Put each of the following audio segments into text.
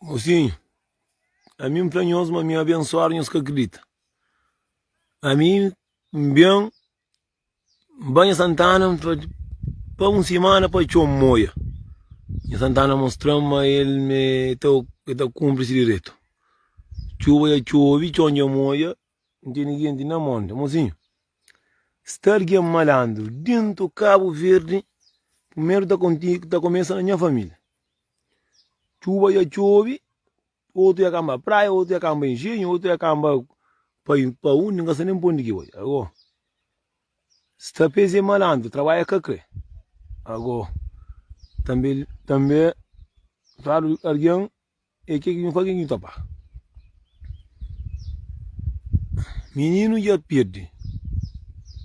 Mosinhu, ami N fla nhos ma mi abensuadu, nhos ka kridita. Ami N ben, N ba nha Santana N fla pa un simana pa txoma N oia. Nha Santana mostra-m ma el me, el ta kunpri se direitu. Txuba dja txobe, txon dja n oia. N ten ninguém di na monde Mozinho Sta alguém malandro Dinto cabo verde Primeiro ta conti ta começa na nha família Tchuba ya tchobi Oto ya camba praia Oto ya camba engenho Oto ya camba pa pa undi N ka sa nem pa undi ki bai Ago Sta pes é malandro Trabalha ka kre Ago Tambe tambe Fado alguém E ke ki nhu faze? Nhu ta ba. Mininu dja pirdi,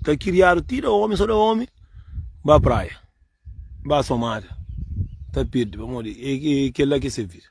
ta kiriadu ti da omi, so da omi, ba praia, ba somada, ta pirdi pamodi e kel la ki é se vida.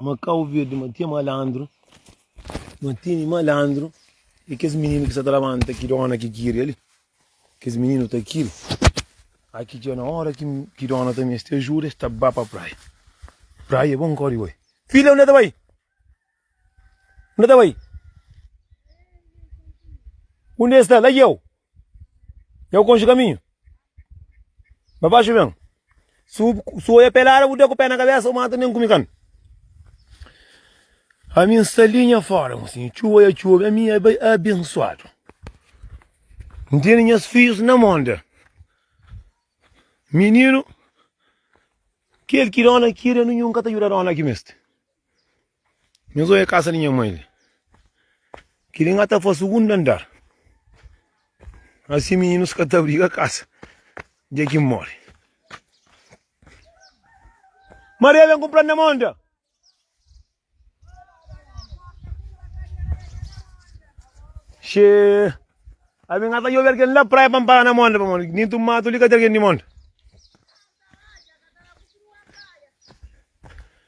Makau verde matia malandro, matini malandro e kes mininu ki sa ta labanta ki dona ki kiri ali, kes mininu ta kiri aki dja na ora ki dona ta meste ajuda es ta ba pa praia, praia bon kori bai, filha unda ta bai? Unda ta bai? Unda e sta? La ki eu, eu konxe kaminhu. Ba baxi ben. Si bu oia pelada, bu da ku pé na kabésa, bu mata nen ku mikan. Ami N sta li nha fora, N siñi txuba ya txuba, ami nha bai abensuadu. N tene nhas fijus na mon del. Mininu, kel ki dóna kida, nunhun ka ta juda dóna ki meste. Nhos oja kasa di nha mai li. Kili nga ta fa sugundu andar. Asi mininus ka ta briga kasa dja ki N mori. Maria ben ku planta na monda. Xe, ami nga ta djobe algen la praia pa N para na monda pamodi dintu matu li ka ten algen di monda.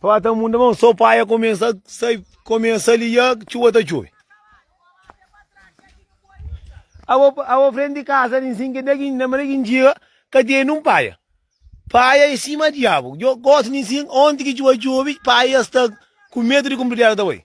Pá ta munda mão só pá ia começa sai começa liá chuva ta chove Abo abo frente de casa nem sim que daqui na maneira que dia que tem num paia paia em cima diabo eu gosto nem sim onde que chuva chove paia está com medo de cumprir ela também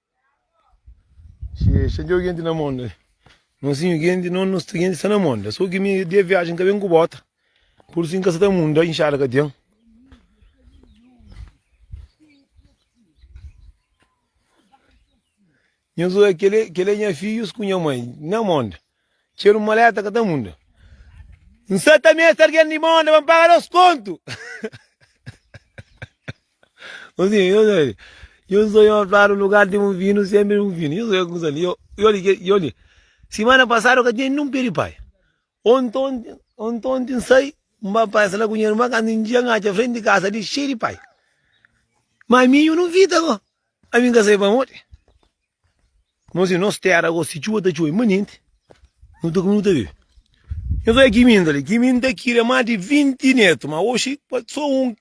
Xie xie djou genti na monda eh Nhozinho genti non nos ta genti sta na monda Sô ki mi dia viajen ka ben ku bota Pur si n ka sa ta munda inxada ka ten Nho zo eh kele eh kele nha fidjus ku nha mai na monda Txeu di maleta ka ta munda N sa ta meste algen di monda pa n paga nos kontu Ô zinho, nhos oi li. Nhos oi un fla-nu lugar di un vinu, senpri un vinu. Nhos oi kusa li. Oi li ke, oi li. Simana pasadu N ka tinha ninhun pé di pai. Ontonti, ontonti N sai, N ba pasa la ku nha irma, kantu N dja, N atxa frenti di kasa li xeiu di pai. Má ami, nhu nu fita gó. Ami N ka sabe pamodi. Irmons, i nos téra gosi, si txuba ta txube manenti, nu ta kume, nu ta bebe. Nhos odja ki minda li, ki minda ki ten más di vinti nétu, má oxi sô un.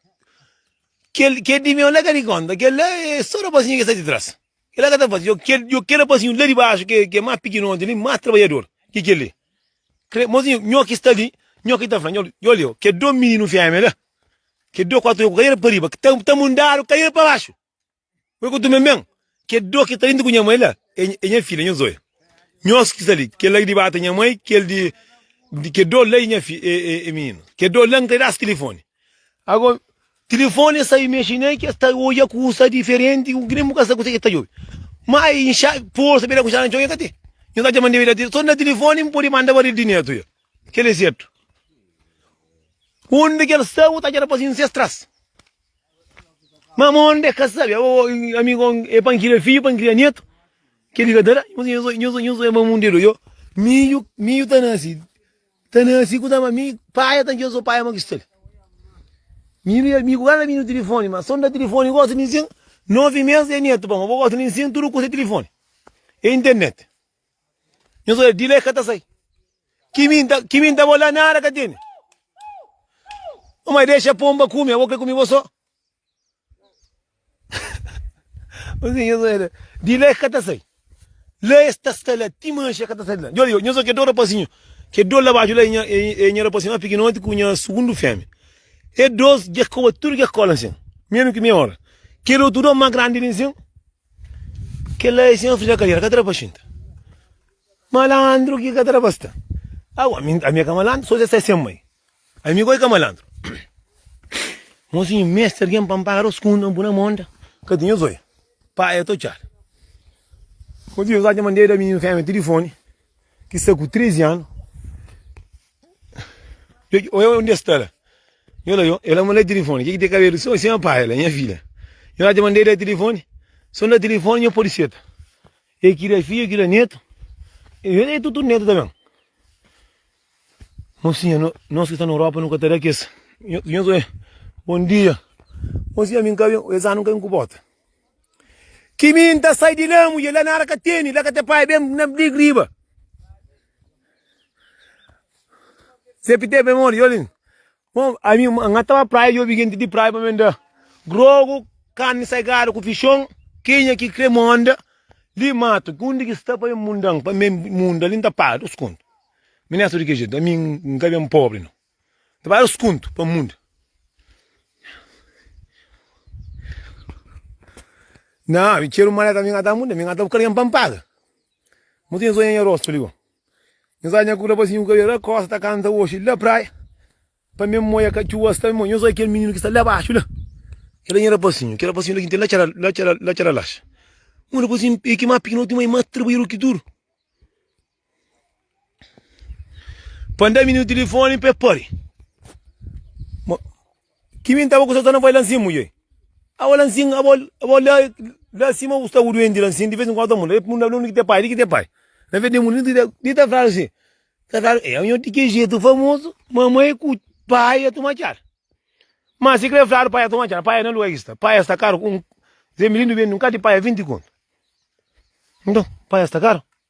Kel, kel di meu la ka di kónta, kel la é sô rapazinhu ki sta di tras, kel la ka ta faze. Djobe kel, djobe kel rapazinhu la di baxu ki é, ki é más pikinoti li, más trabadjador ki kel li. Krê, irmonzinhu, nho ki sta li, nho ki ta fla, nho, nho li, kel dô mininu fémia la, kel dô kuatu, ku kadiera pa riba, ki ta, ta mundadu kadiera pa baxu. Poi ku tume men, ke do ki ta inti ku nha mai la, e nha fia, nha zoia. Nhos ki sta li, kel la ki dibata nha mai, kel di di ke do la e nha fia, e mininu. Ke do la N ta da-s tilifoni. Ago, tilifoni e sta imexe ne, ke sta oja kusa diferenti ku ki nen bu ka sta kuzê ke ta djobe. Ma e inxa, porsa bira ku inxada na txon, nha ka ten. Nhos atxa ma N debe da tilifoni? So N da tilifoni, N pode manda baril di netu ya. Kel e sertu. Undi ke el sta, bu ta atxa na pasinhu ses tras. Mas ma onde ka sabe, amigo é pa N kria fidju, pa N kria netu, kel li ka ta da. Nhos nhos nhos nhos é mamu nde doi. Midju midju ta nase, ta nase ku ta ba mi paia ta njo so paia ma kistali. Mi mi amigo ka ta bini ku tilifoni ma son da tilifoni gosi mi sin, novi mes é netu pa ma bo gosi mi sin tudu kusa é tilifoni, é internet. Nhos odja, di la e ka ta sai. Ki mi nta, ki mi nta bo la nada ka tene. Ô mai, dexa ponba kume, abo kre kume bo sô. Osi, nhos odja la, di la e ka ta sai. La es ta sta la ti manxe, e ka ta sai di la. Djor, nhos odja kel dôs rapazinhu, kel dôs la baxu la, e nha, e nha rapazinhu más pikinoti ku nha sugundu feme. Es dôs dja koba tudu kes kola nsin, menu ki mei ora. Kel otu dôs más grandi li nsin. Kela é sen fria kalera ka ta da pa xinta Malandru ki ka ta da pa sta Awa ami ami é ka malandru so dja sai sen mai Ami goi ka malandru Mozinhu meste algen pa N paga dos kunta N pui na monta ka tinha zóia Pai é totxada Mozinhu Zóia dja mandeba mininu fémia tilifoni ki sta ku 13 anu Oia undi es sta la. Yo la yo, el a mandar telefone. Kiki te kabelu? Son, sen pai, el a nha filha. Yo na te mandei da telefone. Son da telefone, nho pode seta. E kira filho, kira neto. E é tudo neto também. Mocinha, no- nós que está na Europa nunca terá que esse. Nho- nho sou eu. Bom dia. Mocinha, mim cá, eu- esse ano nunca incubota. Que mim tá sai de lá, mulher, lá na área que tem, lá que tem pai, bem, na briga riba. Sepe te ben modi jolin Bon ami nga ta ba praia djobi genti di praia pa ben da grogu karni sagadu ku fishon kinha ki kre monda li matu ki undi ki sta pa ben mundan pa ben munda li nta paga dus kontu mi ne so di ke jetu ami nka ben pobri no. Ta bai los kuntu pa mundu Nha ami txeru maleta mi ka ta muda Mi ka ta bu kalgen pa N paga Mu ten sonha nha rostu li go Nhos atxa nha kuda pa siñu kabelu La kosta ta kanta oxi la praia Pa mi N moia ka txuba sta mi moia Nhos oja kel mininu ki sta la baxu la Kel la nha rapasinhu Kel rapasinhu la ki N tene la txara la txara la txara laxa Un rapazinhu piki ma piki na otu mai ma Trabadjeru ki duru Pa nda minu tilifoni pa e pari. Ma, kimi n tava ku sosana foi lansin muje. Awa lansin, abo, abo la, la sima ku sta ku duenti lansin, di ves nkuantu ta munda. E pundaba li, Di ki ta pai? Di ki ta pai? Na ve di munda, di ta, di ta fala si, ta fala, e aña di ki jetu famozu, mamai ku pai ya tuma txada. Ma si kre fladu pai ya tuma txada, pai ya na lua ki sta. Pai ya sta karu ku un, Zé Milindo bende un kal di pai ya vinti kontu. Nton, pai ya sta karu.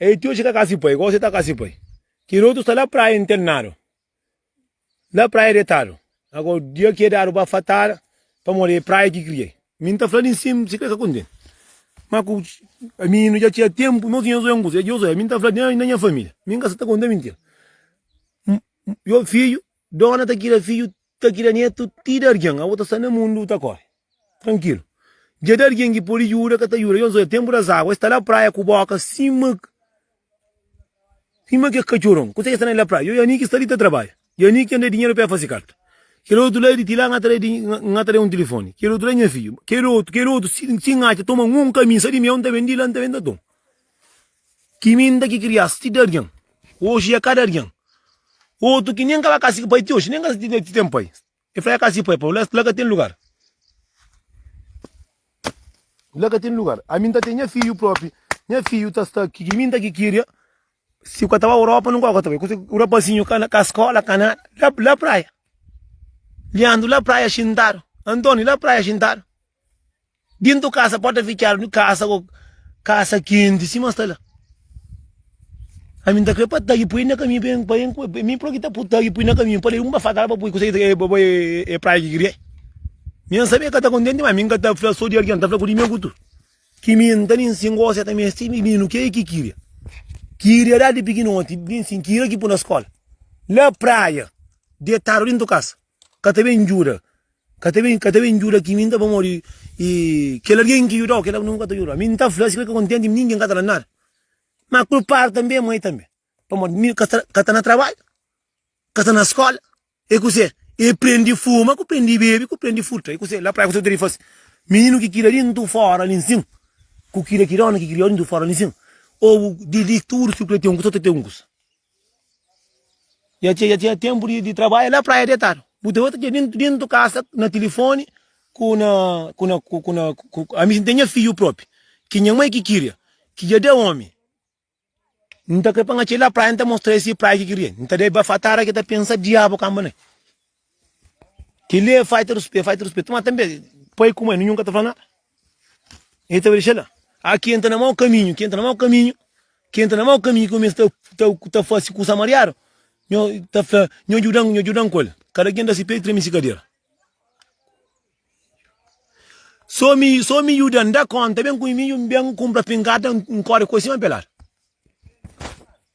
Ei ti oji ka kasi pai gosi ta kasi pai kel otu sta la praia internadu la praia detadu ago dia ki e dadu pa fatada pa modi ei praia ki kria ei. Mi nta fla di sim si ka e ka kontenti ma ku mininu ja txia tempu nos inha zoia nkusa e djoso e mi nta fla di na nha familia mi nka sa ta konta minti yo fidju Dona ta kira fidju, ta kira netu, ti da argen. Abo ta sta na mundu, ta kore trankilu. Dja da argen ki podi djuda, ka ta djuda. Yons oja tenpu da zagu, es sta la praia ku boka sima sima kes katxoron. Kuse ki es sta na la praia? Yo i Aniki sta li ta trabadja. I Aniki anda dinheru pa e fase karta. Kel otu la di, ti la N atraia di, N atraia un tilifoni. Kel otu la nha fidju. Kel otu, kel otu si N atxa toma un kaminsa di mel, N ta ben di la, N ta ben ta toma. Ki minda ki krias ti da arian, oji e ka da arian. Otu ki nen ka ba kasi ki pai ti oji nen ka sa ti ten pai. E fla e kasi pai pa la ka ten lugar. La ka ten lugar. Ami N ta ten nha fidju propi, nha fidju ta sta ki minda ki kiria si bu ka ta ba Europa nunka ku ta bai. Un rapazinhu ka skola ka nada la praia. Liandru la praia xintadu, Antoni la praia xintadu. Dintu kasa porta fitxadu ni kasa ko kasa kenti sima sta la. Ami nta kre pa tagi pui na kaminhu pa pa pa mi proki ta pu tagi pui na kaminhu pali un ba faka la pa pui kusa e ba bai e praia ki kria. Mi an sabe ka ta kontenti ma mi ka ta fla so di algin ta fla ku di mi kutu ki mi nta nin singu o seta mes ti mininu ke ki kiria. Kiria da di pikinoti bin si kiria ki pu na skola la praia detadu dintu kasa. Ka ta ben djuda, ka ta ben, ka ta ben djuda ki mi N ta pamodi i kel algen ki djuda-u, kel la nu ka ta djuda-u. Mi N ta fla si, fika kontenti, mi ningen ka ta da-m nada. Má kulpadu tanbê é moi tanbê, pamodi mi ka sta, ka sta na trabadju, ka sta na skóla. I kuzê? I prende fuma, ku prende bebe, ku prende furta. I kuzê? La praia kuzê ki nu ta ben faze? Mininu ki kria di ntu fóra li nsin, ku kria ki dóna ki kria-u di ntu fóra li nsin, ô di li tudu si ku el ten un kusa, ô ta ten un kusa. Ya txê, ya tinha ténpu di trabadja la Praia di Etadu. Bu ta bai ta txê dentu, dentu ka sa, na tilifoni ku na, ku na, ku na, ku na, ami si n'ten nha fidju propi, ki nha mai ki kiria, ki dja da omi, n'ta krê pa n'atxê la Praia n'ta mostra-i si Praia ki kiria, n'ta da-i bafatara ki ta pensa diabu kamba na-i. Ki li é fai ta ruspê, fai ta ruspê. Tuma tanbê pai ku mai nu nhunka ta fla na. E ta dexa la. A ki entra na mau kaminhu, ki entra na mau kaminhu, ki entra na mau kaminhu ki kumesa ta ta fase kusa mariadu, nho ta fla, nho djudan, nho djudan ku el. Kada ken da si pé i treme si kadera. So mi, so mi djuda, N da kónta, ben ku mi, mi ben kunpra pingarda, N kóre ku el sima pelada.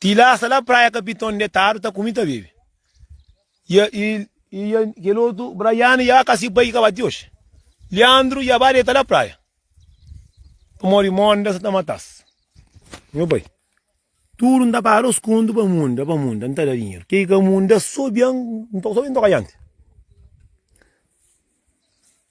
Ti la, sta la Praia Kapiton detadu, ta kumi, ta bebe. I e, i, i e, kel otu, Braiane, i a ka si bai ki ka ba ti oxi. Liandru, i a ba deta la praia. Pamodi Monda sa ta mata-s. Nhu bai. Tudu N ta paga-l skundu pa Monda, pa Monda N ta da dinheru. Ke ki ka Monda sobian, N ta sobi N ta oka dianti.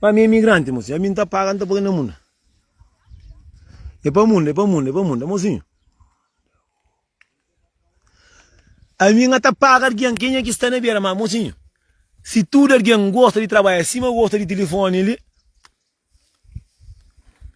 Pa mi é imigranti mosinho. Ami nta paga nta poi na munda. É pa munda, é pa munda, é pa munda mosinho. Ami nga ta paga argen kenha ki sta na bera ma mosinho. Si tudu argen gosta di trabalha sima gosta di tilifoni li.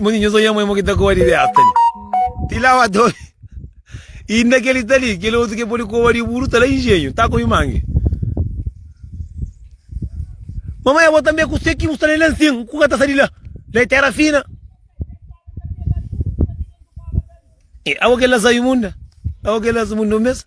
Modi nhos oiê modi ki ta koba di besta li ti lavatori e inda kel li ta li kel otu ke podi koba di buru ta la ingenhu ta kobi mangi mamai abo tambe kuse ki bu sta na el ansin ku ka ta sa di la la e tera fina abo kel la sa imunda abo kel la sa imunda un bes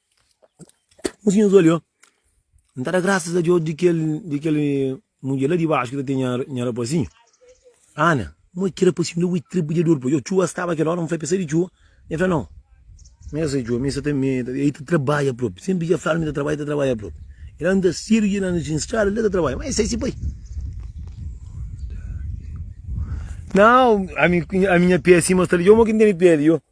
Mosinhus olhou, N ta da grasas a Deus di kel, di kel mudjer la di baxu ki ta ten nha, nha rapazinhu. Ana, Mo é ki rapazinhu la? Ui, ki trabadjador pa. Yo, txua staba kel óra, N fla-l pa el sai di txua. El fla, Nau, mi ka sai txua, mi sa ta, mi, el ta trabadja propi. Sénpri dja fla-l ma el ta trabadja, el ta trabadja propi. El anda sédu dja na na strada, li el ta trabadja. Má el sai si pai. Nau, ami, ami nha pé sin, ma sta li. Yo, mo ki N tene pé li. Yo,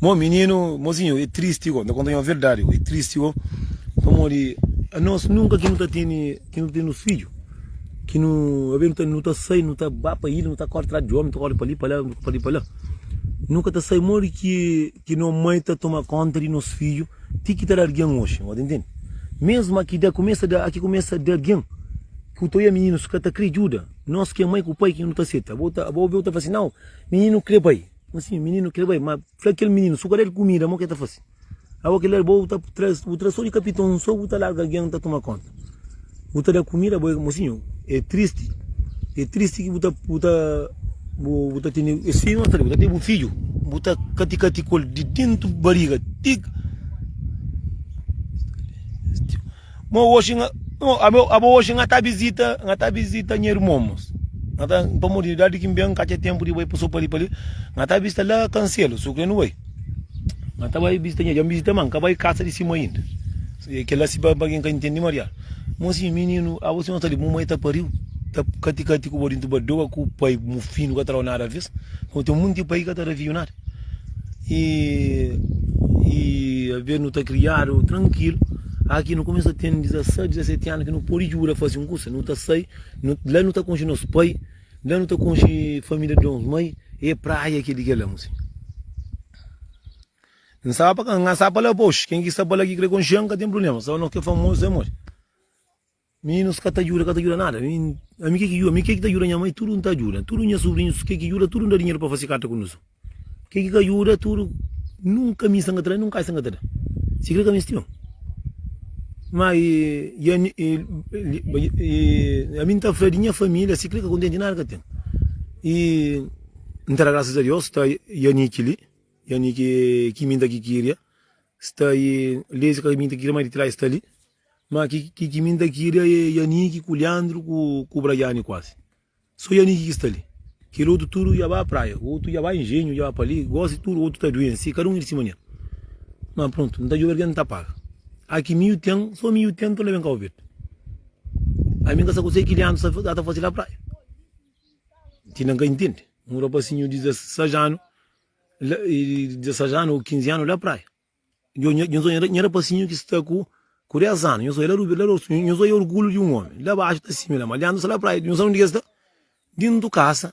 Mo mininu, mozinho é tristi gó, ta konta-u nha verdadi gó, é tristi gó, pamodi anos nunka ki nu ta tene, ki nu ta tene nos fidju, ki nu a ben ta, nu ta sai, nu ta ba pa ilha, nu ta kóre trás di ómi, nu ta kóre pa li, pa la, pa li, pa la, nu ka ta sai modi ki, ki no mai ta toma kónta di nos fidju ti ki ta da algen oxi, bo ta intende? Mésmu a ki da, kumesa da, a ki kumesa da algen, ku teu i a mininus ka ta kre djuda, nos ki é mai ku pai ki nu ta seta, bo ta, bo ta fla-s nau. Mininu kre bai, ma si mininu kre bai, ma fla kel mininu su ka da el kumida mo ke ta fasi, abo kel ar bo bu ta traz, bu traz so di kapiton so bu ta larga algen ta tuma konta, bu ta da kumida bo, mosinhu e tristi, e tristi ki bu ta, bu ta, bu ta tene es fidju, bu ta tene bu fidju, bu ta kati kati ku el di dentu bariga ti. Mo hoje nga, abo, abo hoje nga ta visita, nga ta visita nha irmon, mas nga ta, pamodi di idadi ki N ben, ka txeu tenpu di bai pa so pa li, pa li, nga ta visita la Kanselu, su kre N bai, nga ta bai visita nha, dja N visita, ma N ka bai kasa di sima inda, se kela si pa algin ka intendi mariadu, mo si mininu, abo si nhos ta di, mo mai ta pariu, ta kati kati ku bo di ntubadoa ku pai mufinu ka ta dau nada aves, mo ten munti pai ka ta da fiu nada. e, e aves nu ta kriadu trankilu aki nu kumesa ten 16, 17 anu ki nu pode djuda faze un kusa nu ta sai la nu ta konxe nos pai la nu ta konxe familia di nos mai e praia ki é di kela musi n staba pa ka n staba pa la pa oxi ken ki sta pa la ki kre konxe-m ka ten prubléma staba nos ki é famozu sô é moi. Mininus ka ta djuda, ka ta djuda nada. Ami ke ki djuda? Ami ke ki ta djuda nha mai? Tudu N ta djuda. Tudu nha subrinhus ke ki djuda? Tudu N da dinheru pa fase karta ku nus. Ke ki ka djuda? Tudu nunka mi sa N ka ta da, nunka ai sa N ka ta da. Sikrê ka misti un. Ma ami N ta fla di nha família, sikrê ka kontenti nada ka ten. I N ta da grasas a Deus sta Yaniki li, Yaniki ki mi N ta ki kiria sta i Lezi ka mi ta kiria mai di trai sta li. Ma ki ki mi nta kiri é Yaniki ku Liandru ku ku Bragiani kuazi so Yaniki ki sta li kel otu tudu dja ba praia otu dja ba injenhu dja ba pa li gosi tudu otu ta duensi kada un i di si manera ma prontu nta djobe algen ta paga a ki miu ten so miu ten nton leben Kau Verdi ami nka sa kusé ki Liandru sa sa ta fasi la praia ti nan ka intendi un rapasinhu di 16 anu la 16 anu o 15 anu la praia Djo, nha, nhos odja nha rapasinhu ki sta ku ku dés anu, nhos odja la Rubi, la Rosu, nhos odja orgulhu di un omi, la baxu ta simi la ma, Liandru sta la Praia, nhos sabe undi ki el sta? Dintu kasa,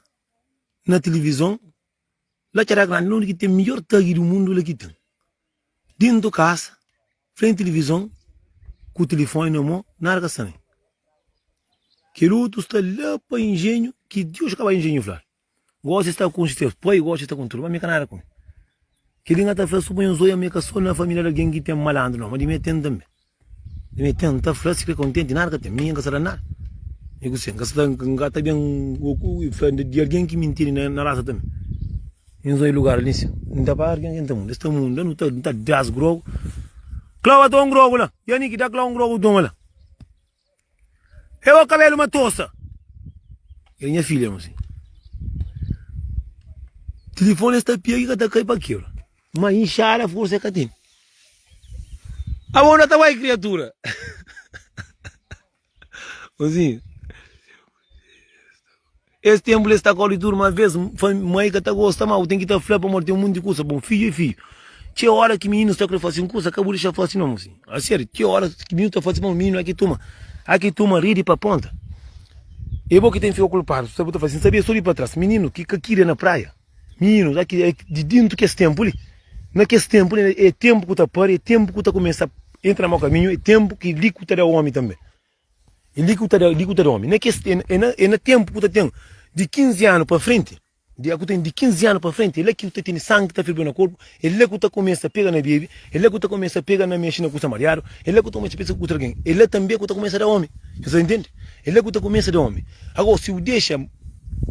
na tilivizon, la Txera Grandi, la undi ki ten midjor tagi di mundu, la ki ten. Dintu kasa, frenti tilivizon, ku tilifoni na mô, nada ka sta ben. Kel otu sta la pa injenhu, ki Djo ki ka bai injenhu fla-l. Gosi sta ku un xtef poi gosi sta ku un tru ma mi ka nada ku mi kili nga ta fla su ponho zoia mi ka so na familia di algin ki ten malandru no ma di mi ten tanbe di mi ten ta fla si kre kontenti di nada ka ten mi nka sa da nada mi ku se nka sa nka ta ben fla di algin ki mintiri na rasa ta mi mi nzoi lugar alin si mi ta para algin ta munda es ta munda no ta no ta das grogu klau ata un grogu la ya ni ki da klau un grogu toma la. E bo kabelu matosa. Era nha filha mô si. Tilifoni es ta pia ki ka ta kai pa kebra. Ma inxada forsa e ka ten. Abo unda ta bai kriatura? Mozinho. Es tenpu la es ta kóre tudu, má bês mai ka ta gosta ma bu ten ki ta fla-l pamodi ten monti kuza. Bon, fidju é fidju. Txeu óras ki mininu sta krê faze un kuza, ka bu dexa-l faze nau. Asériu, txeu óras ki mininu ta faze mal, mininu a ki toma, a ki toma ridi pa ponta. É bo ki ten fika kulpadu si bu ta faze sin. Sabia? Sô di pa tras, mininu ki ka kiri na praia, mininu a ki di déntu kes ténpu li, na kes ténpu li é ténpu ku ta pâria, é ténpu ku ta kumesa intra na mau kaminhu, é ténpu ki li ku ta da ómi tanbê. É li ki bu ta da, li ki bu ta da omi. Na kes, é na, é na ténpu ki bu ta ten di 15 anu pa frenti, di, ku ten di 15 anu pa frenti, é la ki bu ta tene sangi ki ta ferveba na korpu, é la ki bu ta kumesa pega na bebe, é la ki bu ta kumesa pega na mexe na kuza mariadu, é la ki bu ta kumesa pensa ku otu algen, é la tanbe ki bu ta kumesa da omi. Nhos sta ta ntende? É la ki bu ta kumesa da omi. Ago, si bu dexa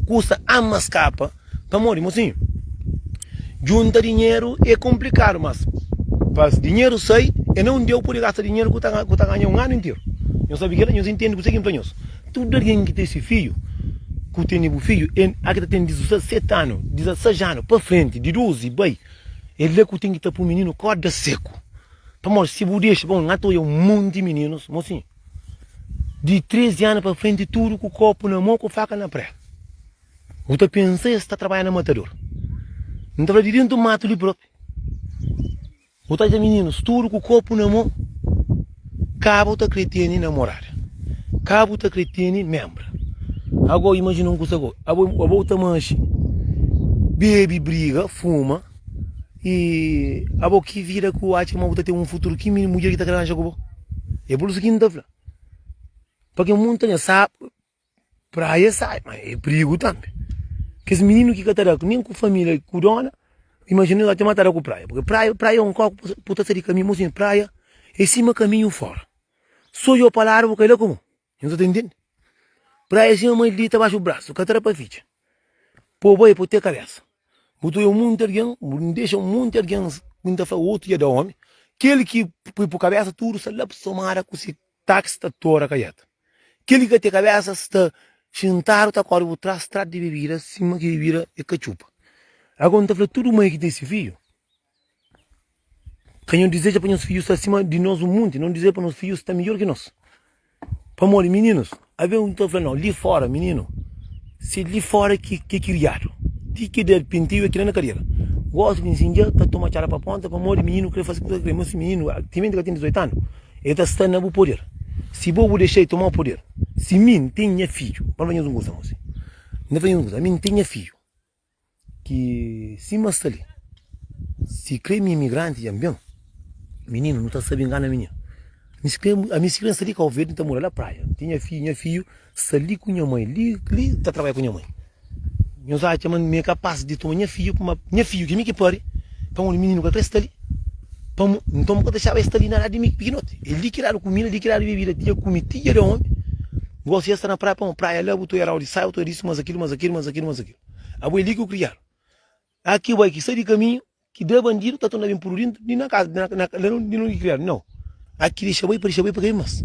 kusa ama skapa. Pamodi, mosinhu, djunta dinheru é konplikadu, mas pa dinheru sai, é na un dia bu pode gasta dinheru ku bu ta ganha un anu interu. Nhos sabe kila? Nhos intende kuzê ki N fla nhos? Tudu algen ki ta isi fidju, ku tene bu fidju, N-a ki ta tene dizaseti anu, dizaseis anu pa frenti, di duzi bai, é la ku ten ki ta poi mininu kóda seku. Pamodi, si bu dexa, bon, N-a ta odja un monti mininus, mosinhu, di trezi anu pa frenti, tudu ku kopu na mô, ku faka na pré. Bu ta pensa es ta trabadja na matador? N ta fla di dentu matu li propi. Bu ta dja mininus tudu ku kopu na mo, ka bu ta kre teni namorada, ka bu ta kre teni menbra. Ago imajina un kusa go, abo abo ta manxi, bebi, briga, fuma y abo ki vida ki bu atxa ma bu ta ten un futuru? Ki mudjer ki ta kre aranja ku bo? E por isu ki N ta fla, pa ken mun ta ben sa. Praia é sai, ma é prigu tanbe. Kes mininu ki ka ta da ku nen ku familia ku dona, imajina el ate ma ta da ku praia. Purke praia, praia é un kau ku bu ta sai di kaminhu, mosinha, praia é sima kaminhu fora. So djobe pa ladu bu kai la ku mo. Nhos sa ta intende? Praia é sima maldita baxu brasu, ka ta da pa fitxa. Po bai, po te kabesa. Bu ta obi monti algen, bu dexa monti algen bin ta fla otu dja da omi, kel ki pui pa kabesa tudu sa lap somada ku se. Táksi ta tora kaiéta. Kel ki ka ten kabésa sta xintadu ta kóre bu trás trá di bebida sima ki bebida é katxupa. Ago N ta fla tudu mai ki ten se fidju, Ka nhos dizeja pa nhos fidju sta sima di nos un munti, nhos dizeja pa nos fidju sta midjór ki nos. Pamodi mininus, Avia un ki ta fla, Nau, li fóra, mininu, si li fóra ki ki é kiriadu, ti ki da pintigu é ki da na kadera. Gósi di nsinja dja ta toma txada pa pónta, pamodi mininu krê faze kuza ki el krê. Má si mininu timenti el ka ten 18 anu, el ta sta na bu poder. Si bo bu dexa-l toma-u poder, si mi N ten nha fidju, pa N fla nhos un kuza, mose, N ta fla nhos un kuza, ami N ten nha fidju, Ki si ma sta li. Si kre mi imigranti dja N ben. Mininu, nu ta sabe ngana mininu. Mi si kre, ami si kre N sta li Kau Verdi, N ta mora la praia. N ten nha fidju, nha fidju sta li ku nha mai, li, li ta trabadja ku nha mai. Nhos atxa ma mi é kapas di toma nha fidju kuma nha fidju, ki mi ki pari, pamodi mininu ka kre sta li. Pamo, nton bu ka dexaba el sta li na ladu di mi pikinoti. É li ki dadu kumida, li ki dadu bebida, ti dja kume, ti dja da omi. Gosi es sta na praia pa ma praia la bu ta oiarau di saia bu ta disu mas akilu mas akilu mas akilu mas akilu abu é li ki bu kriadu aki bai ki sai di kaminhu ki da bandidu ta torna bin pudu dintu di na kaza di na ka la di onde kriadu nau aki dexa bai pa dexa bai pa kai mas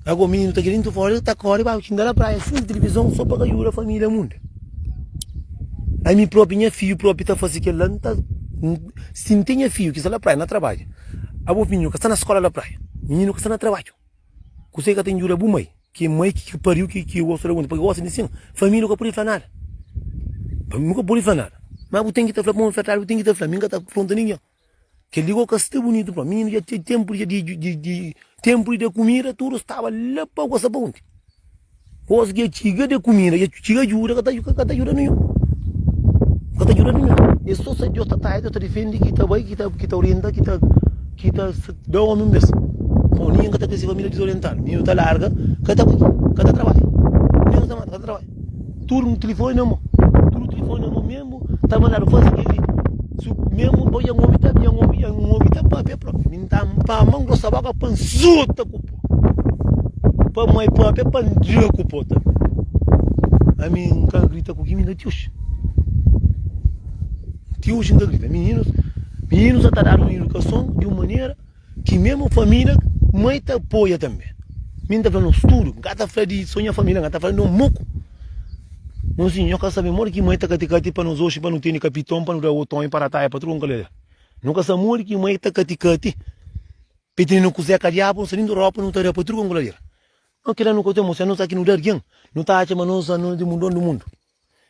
ago mininu ta kre dintu fora el ta kori ba kinda la praia sin tilivizon so pa ka juda familia munda ami propi nha fiu propi ta fasi kel la n ta si n ten nha fiu ki sta la praia na trabadja abu mininu ka sta na skola la praia mininu ka sta na trabadju. Kuse ka ta injuda bu mai? Ki mai ki ka pariu ki ki gosta da bu? Paki gosta di sin? Família ka pudi fla nada. Nu ka pudi fla nada. Ma bu ten ki ta fla pa un fratadu, bu ten ki ta fla. Mi N ka ta afronta ningen. Kel-li gô ka sta bunitu pa mi. Mininu dja ten ténpu di dja di. Ténpu di da kumida tudu staba la pa gosa pa unti? Kos ki dja txiga de kumida dja txiga ajuda ka ta ajuda ninhun, ka ta ajuda ninhun. E sta so Deus ta trai, Deus ta difende, ki ta bai, ki ta orienta, ki ta ki ta da omi un bes. Bon, ninhun ka ta kre se família dizorientadu. Ninhun ta larga, ka ta bai, ka ta trabadja. Ninhun ka ta manda, ka ta trabadja. Tudu ku tilifoni na mô, tudu ku tilifoni na mô. Memu ta mandadu faze kel li, memu bo dja n obi ta, dja n obi, dja n obi ta pâpia propi. Mi n ta n pâ mô, n grosa bóka pa n suta ku. Pa moi própria é pa N dira ku po ta Ami N ka grita ku ki mi na ti oxi Ti oxi N ka grita Mininus Mininus sa ta dadu un idukason di un manera ki meme família mai ta apoia tanbe Mi N ta fla no studu N ka ta fla di so nha família N ka ta fla di no muku Mon si nho ka sabe modi ki mai ta kati kati pa nos oxi pa nu tene kapiton pa nu da oton i pa rataia pa tudu kon kalele Nu ka sa modi ki mai ta kati kati Petini nu kuzé ka diabu nu sa nin di ropa nu ta rapa tudu kon kulader no kila nu ka ten mostra nu sa ki nu da argen nu ta atxa ma nos anuna di mundon di mundu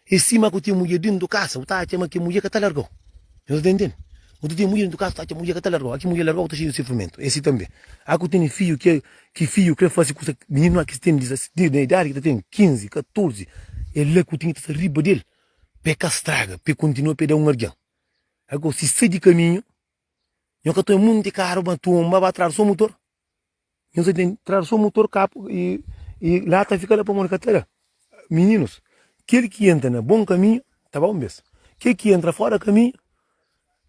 e sima ku ten mudjer dintu kasa u ta atxa ma ki mudjer ka ta largau nu ta ten ten u ta ten mudjer dintu kasa u ta atxa mudjer ka ta largau a ki mudjer largau ta xei di sufrimentu e si tanbe a ku teni fiju ke ki fiju kre fasi kusa mininu a ki teni di na idadi ki ta ten kinzi katorzi e la ku ten ki ta sta riba del pe ka straga pe kontinua pe da un argen a kau si sai di kaminhu. Nho ka toma munti karu ba tumba ba trar so mutor. Nho sa tem trar so mutor kapu e e lata fika la pamodi ka ta da. Mininus, kel ki entra na bon kaminhu ta ba un bes. Kel ki entra fora kaminhu,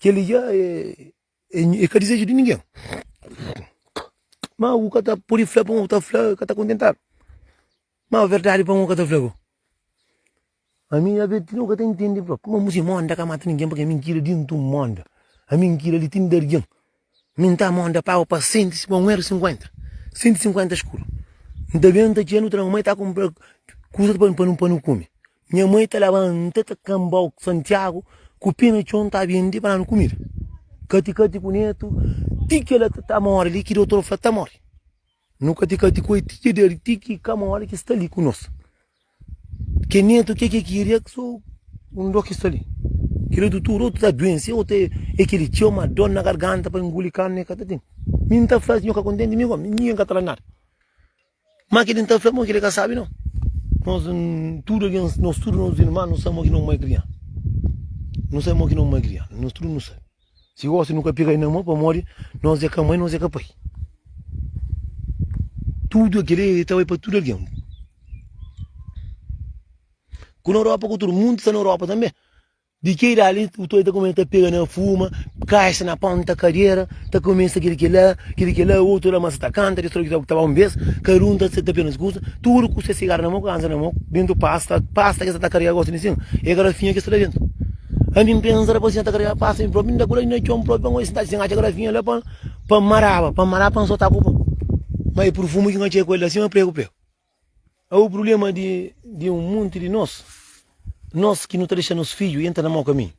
kel li ja e e ka dizeju di ningen. Ma u ka ta pudi fla pa un, u ta fla ka ta kontentadu. Mau verdadi pa mô ka ta fla gô. Ami a ve ti no ka ta intende prop. Kuma musi monda ka mata ningen pake mintira di ntu monda. A mintira li tin dargen. Minta monda pago pa senti si pa un er sinkuenta. Senti sinkuenta skuru. Nta benta txeu nu tra mamai ta kumpra kusa pa pa pa nu kume. Nha mai ta labanta ta kambau santiagu ku pe na txon ta bende pa danu kumida. Kati kati ku netu ti kila ta ta mori li ki dotor fla ta mori. Nu ka ti kati ku el ti ki der, ti ki ka ma ora ki sta li ku nos. Ke netu ke ke kiri e so un do ki sta li. Kila di tudu otu ta duense, otu e e kiri txeu ma dor na garganta pa enguli karni e ka ta tene. Mi N ta fla si nho ka kontenti mi gomi, ningen ka ta fla nada. Ma kile N ta fla mo kile ka sabi no. Nos tudu algen, nos tudu nos irman nu sabe mo ki no mai kriansa. Nu sabe mo ki no mai kriansa, nos tudu nu sabe. Si osi nu ka pega-l na mô pamodi nos é ka mai, nos é ka pai. Tudu kel li e ta bai pa tudu algen. Ku na Europa ku tudu, mundu sta na Europa tanbe. Di ki idadi li utô ta kumesa ta pega na fuma, kaxa na ponta kadera, ta kumesa kel li kel la, kel li kel la, otu la masa ta kanta, di stroki ta ba un bes, kada un ta ta pega na se kuza, tudu ku se sigaru na mô, ku ansa na mô, bentu pasta, pasta ki es sa ta karia gosi li sin, e kada finha ki es ta da bentu. An bin pensa depois nha ta karega pasta mi próprio inda kula inda txon próprio pa sentadi sem acha grafinha la pa pa maraba pa maraba pa sota ku pa ma e perfume ki nha txei ku el la sima prego prego a o problema di di um monte di nos nos ki nu ta dexa nos filho entra na mau caminho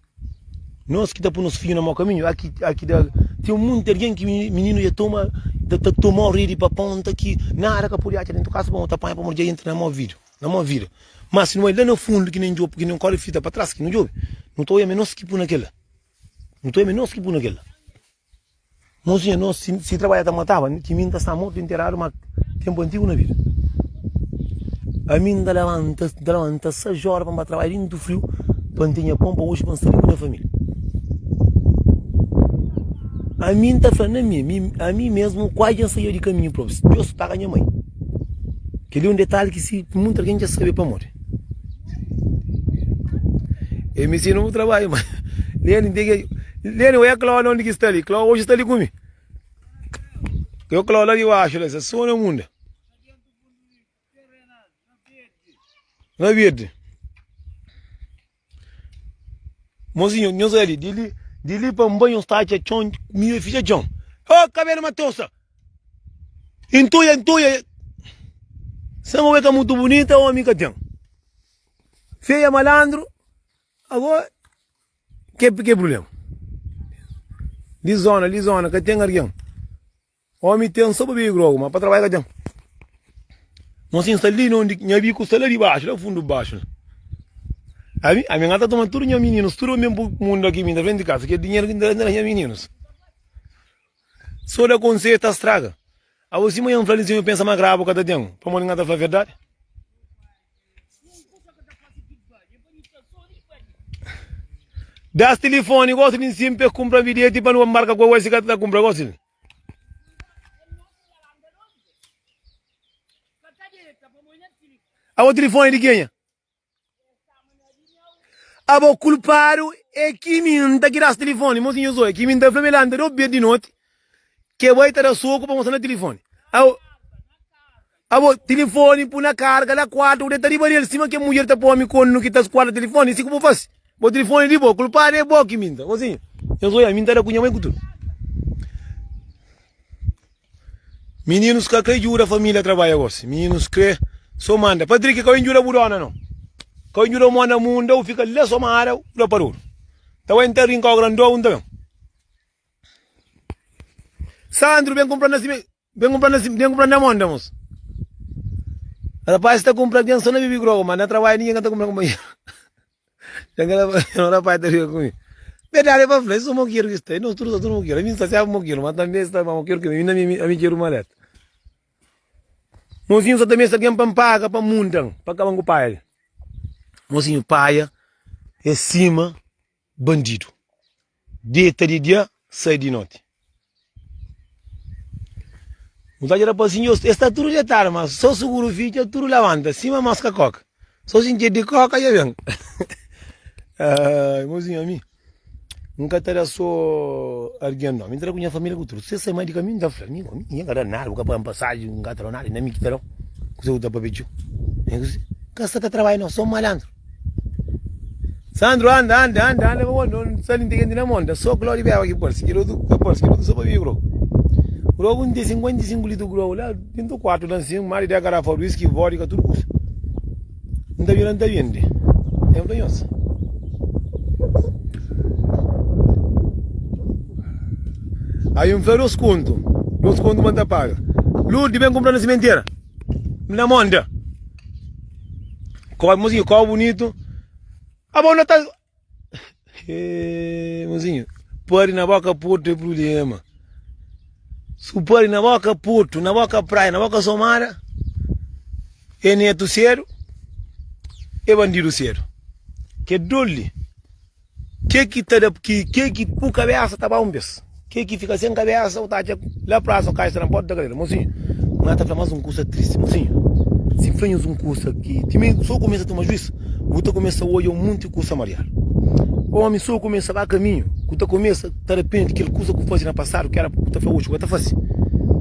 nos ki ta pui nos filho na mau caminho aki aki da tem um monte de alguém ki menino ya toma ta ta tomau rede pa ponta ki nada ka pudi acha dentu kasa pa mo ta panha pamodi dja entra na mau vídio Na mó vida. Má si nu bai la na fundu, ki nen djopu, ki nen kóre fita pa tras, ki nu djobe, nu ta oja ma é nos ki pui na kel-la. Nu ta oja ma é nos ki pui na kel-la. Mozinha, nos, si, si trabadja ta mataba, ki mi N ta sta mortu i nteradu má ténpu antigu na vida. Ami N ta labanta, N ta labanta sais óra pa N ba trabadja dentu friu pa N tenha pon pa oji, pa N sta bê ku nha família. Ami N ta fla na mi, ami, ami mésmu, kuadja N saía di kaminhu própi, Deus paga nha mai. Kel-li é un detalhi ki si munti algen dja sabe pamodi el mi sina un trabadju ma Leni nte ki Leni ué Klaudi ondi ki sta li? Klaudi oji sta li ku mi yo Klaudi la di baxu la sa sona munda na verdi. Mozinho, nhos bai li, di li pa nba nhos ta atxa txon miu e fitxa txon. Ô, kabelu Matosa! E ntuia, ntuia! Sen obi ka mutu bunita, omi ka ten. Feia, malandru, ago ke prulema? Li zona, li zona ka ten argen? Omi ten so pa bebe grogu ma pa trabalha ka ten Mon sin sta li na undi nha biku sta la di baxu la fundu baxu la Ami ami nga ta toma tudu nha mininus tudu pa mi ben pui mundu aki mi na frenti di kasa kel dinheru ki nta da nha mininus so da konselhu ta straga Abo sima nha flali sin yo pensa ma grabu ka ta ten pamodi nga ta fla verdadi Das tilifoni gosi di nsin pa es kunpra bilheti pa nu ba nbarka ku Hawaii si ka ta kunpra gosi li. Abo tilifoni di kenha? Abo kulpadu é ki mi N ta ki da-s tilifoni Mozinha Zóia ki mi N ta fla-m el anda dôs bês di noti Ke bo é ta da soku pa mostra-m na tilifoni Abo. Abo, tilifoni pu na karga la kuartu ku deta riba di el sima ke mudjer ta pome konu ki ta skuada tilifoni, si ku bu fasi? Bo tilifoni di bo, kulpadu e bo ki minta. Bo siña, nhos oia, mi ntada ku nha mai ku tudu. Mininus ka krê djuda familia trabadja gosi, mininus krê so manda, Patriki ka bai njuda bu dona no, ka bai njuda mo na munda, u fika la so mara u la parudu, ta bai nta rinka o grandô u nta ben. Sandru ben kumpranda si. Ben kunpra na si, ben kunpra na mon demos. Rapaz ta kunpra algen so na bibi groga, ma na trabalho ningen ka ta kunpra kunpanheru. Dja kela un rapaz ta riba ku mi. Berdadi el pa fla, es so mokeru ki sta, nos tudu sta tudu mokeru. Ami sta siába mokeru, ma tambi es sta ma mokeru ke mi, inda ami ami keru maleta. Mosinhu sa ta meste algen pa npaga pa nmundan, pa kaban ku paia li. Mosinhu paia, e sima. Bandidu deta di dia, sai di noti. Un ta dja da pa sinhor, es ta tudu detadu, ma so suguru fi dja tudu labanta, sima moska koka. So sinti ed di koka dja ben. Ai, mozinho, ami N ka ta da so argen no, mi ta da ku nha familia ku tudu. Si es sai mai di kaminhu, N ta fla, mi ami N ka da nada, bu ka paga-m pasaji, N ka ta da-u nada, e na mi ki ta da-u. Kuzê ku bu ta papia txeu? Kasa ka trabadja no, so malantru. Sandro anda anda anda anda pa modi no no sta li no ten kenti na mon ta so glória beba ki parse kel otu ke parse kel otu so pa mi bro bro ku no ten 55 litru ku bro la dentu kuartu la si mari dea garafa whisky vodka tudu kusa no ta bira no ta bende el fla nhos avi no fla dos kontu dos kontu ma no ta paga Lourdes ben kunpra no simentera mi na mon ta. Kó mozinho, kó bonito. Abo na ta eh, mozinho, pari na boca porto é problema. Se pari na boca porto, na boca praia, na boca somada, é neto cedo, é bandido cedo. Que dole. Ke ki ta da ke ki pu kabesa ta ba un bes ke ki fika sem kabesa u ta atxa la prasa o kaxa na porta da karera mozinho ma na ta fla mas un kusa tristi mozinho si fla nhos un kusa ki timi so kumesa tuma juis u ta kumesa odja un munti kusa mariadu omi so kumesa ba kaminhu ku ta kumesa ta rapenti kel kusa ku fazi na pasadu ki era ku ta fla oxi ka ta fazi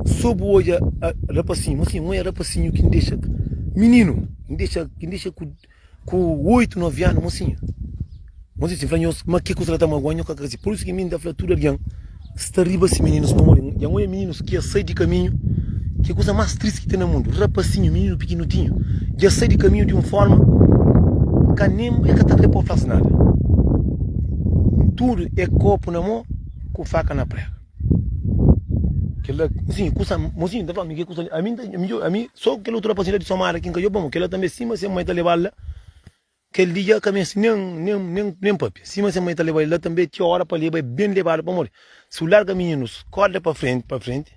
so bu odja rapasinhu mozinho moe rapasinhu ki n dexa mininu ki n dexa ki n dexa ku. Ku oitu, novi anu, mosinhu Mozinhu sibi fla nhos ma ki kuza el ta magua-m, nhos ka krê. Pur isu ki mi N ta fla tudu algen sta riba si mininus pamodi dja N odja mininus ki dja sai di kaminhu, ki é kuza más tristi ki ten na mundu. Rapasinhu, mininu pikinudinhu, dja sai di kaminhu di un fórma ki ka nen el ka ta krê pode fla-s nada. Tudu é kópu na mô ku faka na préga. Kela, sim, kusa, mozinho, tá falando, kusa, a mim, a mim, só kela outro rapaz de Somar aqui, nunca eu bom, kela também, sim, mas a mãe tá levá-lo lá, kel li já caminha assim, nem, nem, nem, nem papia, sim, mas a mãe tá levá-lo lá também, tinha hora para levá-lo, bem levá-lo para morrer, se eu larga menino, corda para frente, para frente.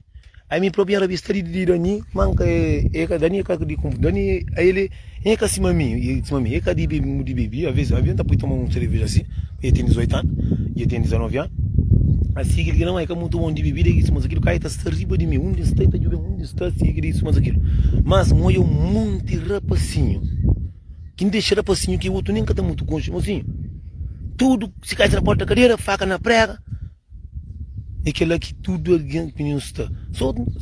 Ami propi nra bista di di dani ma nka e ka dani ka di konfu dani a ele e ka sima mi sima mi e ka di bebi mu di bebi a ves a ves nta poi toma un sereveja si ma e ten 18 anu i e ten 19 anu asi kil kila ma e ka mutu bon di bebida e kis mas kil ka e ta sta riba di mi undi nsta e ta jubi undi nsta si kil kis mas kil mas nwoja un monti rapasinhu kin dexa rapasinhu ki otu nin ka ta mutu konxe mosinhu tudu si kai si na porta kadera faka na prega É kel-la ki tudu algen ku nhos sta.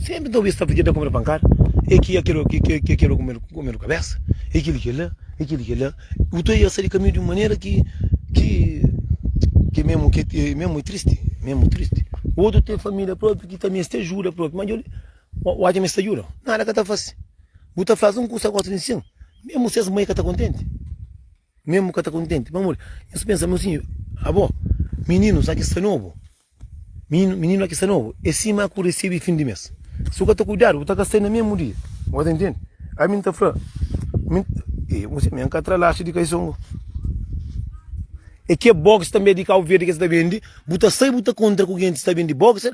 Sénpri ta obi es ta fla ki el ta kome-l pankada, é ki é kel-la, ki é kel-la ki ta kome-l kabésa, é kel-li ki é kel-la, é kel-li ki é kel-la. Bu ta obi el sai di kaminhu di un manera ki é mésmu, ki é mésmu tristi, é mésmu tristi. Otu ten família própi ki ta meste ajuda própi, má dja-li odja ma es ta djuda-l, nada ka ta faze. Bu ta fla-s un kusa, gosi di insin, mésmu si es mai ka ta kontenti. Mesmo ka ta kontenti pamodi nhos pensa ma si abo mininus la ki sta nobu, mininu la ki sta nobu e sima ku risibi fin di mes. Si bu ka ta kuidadu bu ta ka sai na mesmu dia. Bu ka ta intendi? Ami N ta fla, e muse mi N ka tra laxi di kaisongo. E ke boxer tanbe di Kau Verdi ke sa ta bendi, bu ta sai bu ta kontra ku gentis ta bendi boxer.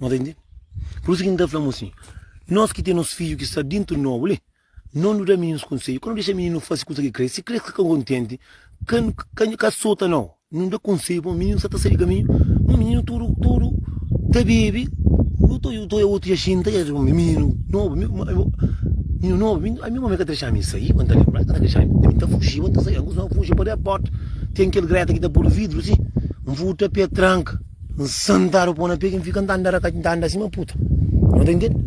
Nos ta intende? Pur isu ki N ta fla-bu asin, nos ki ten nos fidju ki sta dintu nobu li, no nu da mininus konsedju, ka nu dexa mininus fasi kusa ki kre-s. Si kre-s ka ta kontenti, ka nu ka nu ka sota no. Nu da konsedju pamodi mininus sa ta sai di kaminhu, ma mininus tudu tudu ta bebe. Yu ta yu ta yu otu dja xinta dja pamodi mininu nobu, mininu nobu. Mi mi mame ka ta dexa mi sai, pa N ta lenbra, ka ta dexa mi. Mi ta fujiba, N ta saiba, N kustuma fuji pa de port. Ten kel greta ki ta pur di vidru si, N futa pé tranka. N santadu pô na pé ki N fika N ta anda raka, N ta anda sima puta No ta intende?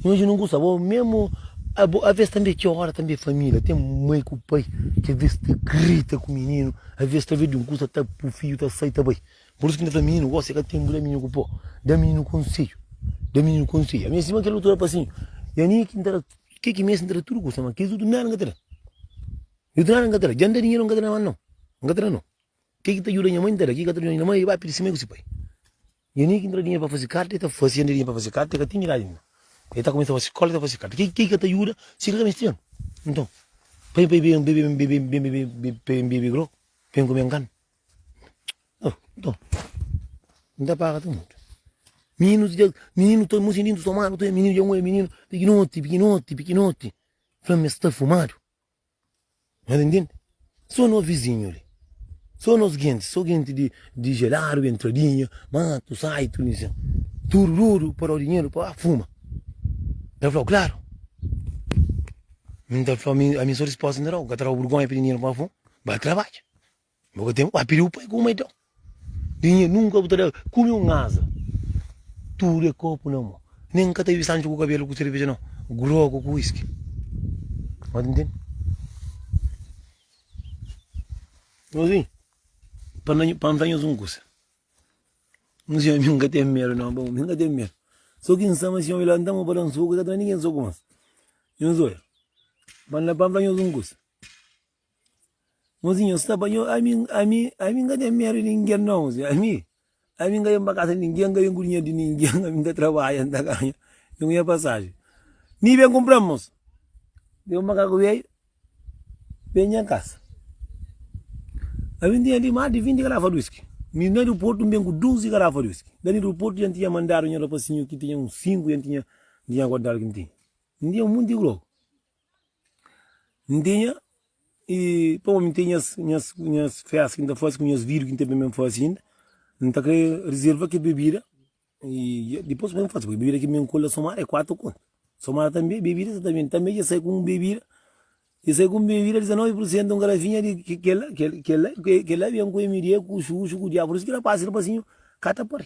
Imajina un kusa bo memu abo Aves tanbe ki ora tanbe família ten mai ku pai ki aves ta grita ku mininu Aves ta ben di un kusa ta pô fidju ta sai ta bai Pur isu ki N ta fla mininu gosi é ka tenpu da mininu ku pô Da mininu konsedju Da mininu konsedju Ami sima kel otu rapasinhu i ami ki N ta da ke ki meste N ta da tudu kusa ma kilis otu nada N ka ta da Otu nada N ka ta da Dja N da dinheru N ka ta da mas nau N ka ta da nau. Ke ki ta djuda nha mai nta da? Ki ka ta djuda nha mai e bai pidi si mai ku si pai. Nha nia ki ntra dinheru pa fazi karta e ta fasi e ntra dinheru pa fazi karta e ka tinha idadi ainda. E ta kumesa fasi skola e ta fasi karta. Ke ki ka ta djuda si ka ka mesti ben? Nton pa pa ben ben bebe grow pa ben kume nganu? Oh nton N ta paga ta mutu. Mininu dja mininu ta mo sentidu somadu ta mininu dja un e mininu pikinoti pikinoti pikinoti fla-m es ta fumadu. Nhos intende? Sô nos vizinhu li, sô nos gentis, sô gentis di di Geladu, di Entradinha, Matu, Saitu, tudu li sen. Tudu, tudu pa da-u dinheru pa ba fuma. N ta fla-u klaru. Mi N ta fla-u, ami, ami sô dispostu N ta da-u, N ka ta da-u burgonha pidi dinheru pa ba fuma. Ba trabadja. Bo ka ten Uai, pidi bu pai kuma então. Dinhe nunka bu ta da kume un aza. Tudu é kopu na mo. Nen n ka ta bibi sanchu ku kabelu ku serveja nau. Grogu ku whisky. Bo ta ntende? Nau sim, pa na pa N fla nhos un kusa. Un siñor mi N ka ten medu nau, bon, mi N ka ten medu. So ki N sa ma si omi lanta mo pa da un soku, ka ta da ninguén soku mas. Nhos oja, pa N fla nhos un kusa. Mozinho, nhos ta panha-u? Ami, ami, ami N ka ten medu di ningen, nau, mozinho. Ami, ami N ka ben pa kasa di ningen, N ka ben ku dinheru di ningen, ami N ta trabadja, N ta ganha, N ganha pasajen. Mi ben kunpra-m, mozu. Dja un makaku bedju ben nha kasa. Ami N tinha li mas di vinti garafa di uiski. Mi na aeroportu N ben ku duzi garafa di uiski. Na aeroportu dja N tinha mandadu nha rapazinhu ki tinha uns sinku, dja N tinha, N tinha guardadu ki N tinha. N tinha monti di drogu. N tinha i pa bo mi ten nhas festa ki n ta fase ku nhas vídiu ki n ten pa mi fase inda n ta krê rizerva kes bebida i dipôs pa mi fase pui bebida ki ben ku la sumar é kuatu kontu sumar tanbê bebida sa ta ben tanbê dja sai ku un bebida dja sai ku un bebida 19 pur sentu un garafinha di kela kela kela ben ku mda ku xuxu ku diabu pur isu ki rapasisda pasinhu ka ta pari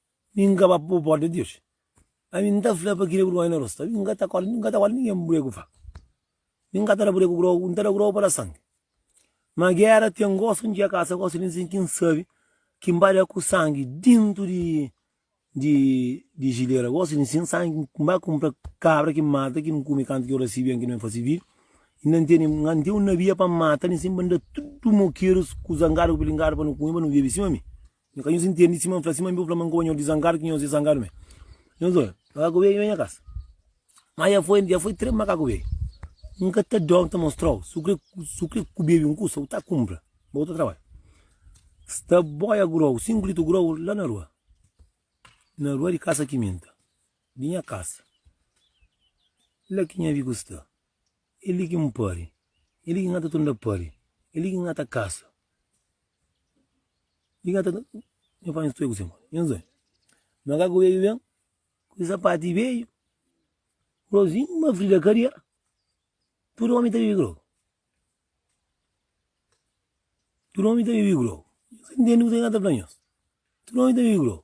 Mi N ka ba pa bu porta di oji. Ami N ta fla pa kile burgónha na rostu, ami N ka ta kóre, N ka ta kóre ningen buré ku faka, nin N ka ta da buré ku króku, N ta da króku pa da sangi. Ma géra ten gosi N txiga kasa, gosi N sinti N sabe ki N ba da ku sangi dintu di jilera, gosi N sinti sangi ki N ba kunpra kabra ki N mata ki N kume kantu ki ora si ben ki N ben fase vídiu, inda N tene, N ten un nabia pa N mata nin sin pa N da tudu mokerus ku zangadu ku pilingadu pa nu kume pa nu bebe sima mi. Nhu ka nhos intendi sima N fla sima mi bo fla ma N ka oja nhos di zangadu ki nhos e zangadu me Nhos oja makaku beiu na nha kasa ma ja foi ja foi tres makaku beiu N ka ta dó N ta mostrau su kre su kre ku beiu N kusa u ta kunpra ba u ta trabadja Sta boia grou sinku litru grou la na rua na rua di kasa kiminta di nha kasa la ki nha viku sta. É li ki N pâre. É li ki N ta ta nda pâre. É li ki N ta kasa. Li ki N ta ta. Nha pai, N sta-i ku se modi. Nha zói, Makaku beiu ben ku se sapati beiu. Rozinha, ma Frida ka dia. Tudu ómi ta bebe grogu. Tudu ómi ta bebe grogu. Nhos ka ntende kuzê ki N sta ta fla nhos? Tudu ómi ta bebe grogu.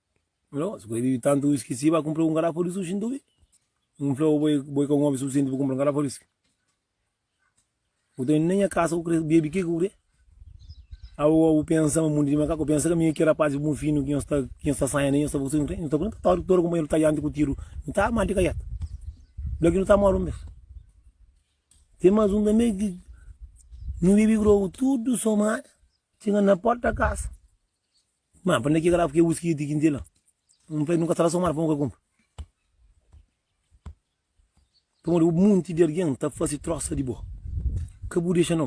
Si bu ta bebe tantu whisky si, ba kunpra un garafa di sushi nton ke. N fla bo, bo i ka un omi sufisienti pa kunpra un garafa di whisky. Nton na nha kasa bu krê bebe ke ku bu krê. Awowo bu pensa ma mundu di makaku, pensa ka mi ki rapazis bu finu ki nhos ta sanha li, nhos ta ba ku sodi, nhos ta pergunta ta ora ki ora kunpanheru ta dianti ku tiru mi ta arma di kaiata? Bla ki nu ta more un bes. Ten más un tanbe ki nu bebe grogu tudu somada, txiga na porta di kasa. Má, pa-n da ki garrafa ki whisky di kinti la? N fla-i, nu ka sta la sô un óra pa nu ka kunpra. Pamodi un monti di algen ta fase trósa di bo. Ka bu dexa no.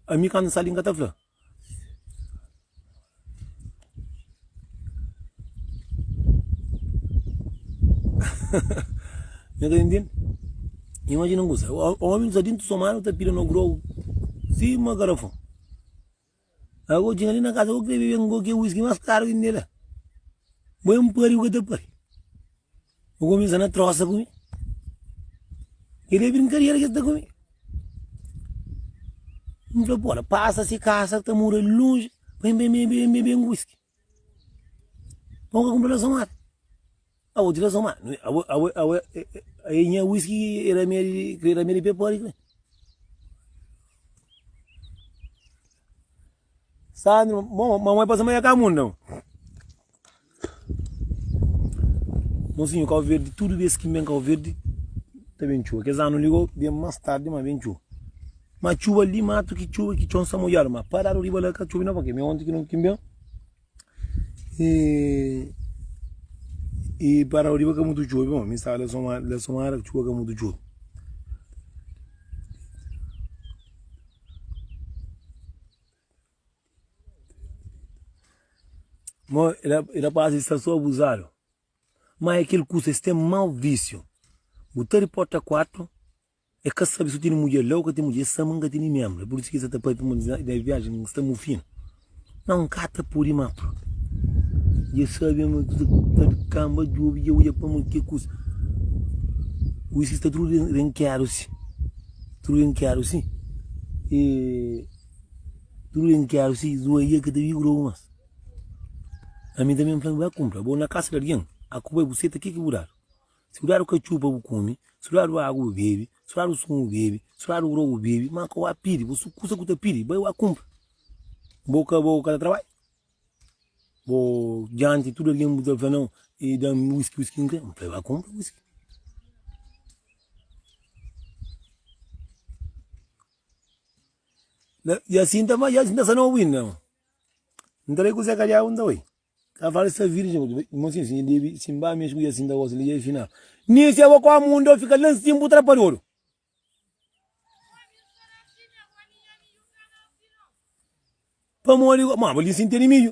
Ami kantu N sta li, N ka ta fla. Mi ka ta ntende. Imajina un kusa, ómi ta déntu somada ta pida no grau sima garafon. Agu o txega li na kasa, go kre bebe ngo ke wiski mas karu ki tene la. Bo e mpari bo ka ta pari. Bo kumesa na trosa ku mi. Kile e brinkadera ki es ta ku mi. N fla, pora, pasa si kasa ta mora lonji pa N bebe wiski. Nau ka kunpra razon âr. Awe di razon ma awe awe awe aê nha whisky e ramia e ramia di pepori kre. Sandro mo ma mo e pasa ma ya ka mun dau. Mosinho kau verde tudo bes ki ben kau verde ta ben txuba kes anu li go ben mas tardi ma ben txuba. Ma txuba li matu ki txuba ki txon sa molhadu ma pa ladu riba la ka txubi na pa ke mi onti ki no kimben i pa ladu riba ka mutu txubi ma mi staba la son ma la son ara ki txuba ka mutu txubi mo i rapasi sta so abuzadu ma e kel kusa es ten mau visiu bu ta riporta kuartu E ka sabe si u tene mudjer la o ka tene mudjer, e sama n ka tene membra, e pur isu ki e sa ta papia ma na viajen n sta mufina. Nau n ka ta pode ma pronta. Dje sabe ma tudu ki ta di kanba djobe, dje odja pa ma ke kusa ku isu ki sta tudu renkeadu si, tudu renkeadu si, e tudu renkeadu si, zuwa i e ka ta vive ku djobe mas. Ami tanbe n fla-m, bai kunpra bo na kasa di algin, a ku bai bu seta ke ki bu dadu? Si bu dadu katxupa, bu kume, si bu dadu agu, bu bebe, si bu dadu sumu, bu bebe, si bu dadu grogu, bu bebe, má ka ua pidi, bu su kusa ku ta pidi, bai ua kunpra. Bo ka bo ka ta trabadja? Bo djanti tudu algen bu ta fla nau, e da-m wiski, wiski, n'kre, bai ua kunpra wiski. I asin ta fadja, i asin ta sa nau, bu inda? N'ta bai ku Zé Kalhau, n'ta bai. Ka fala sta virgem ku tu. Mon sim sim nha baby sim ba mes ku ya sim ta gosta li ya final ni si abo kó mundo eu fika lan sim bu tra pa dodo. Pamodi ku ma abo li sim tene midju.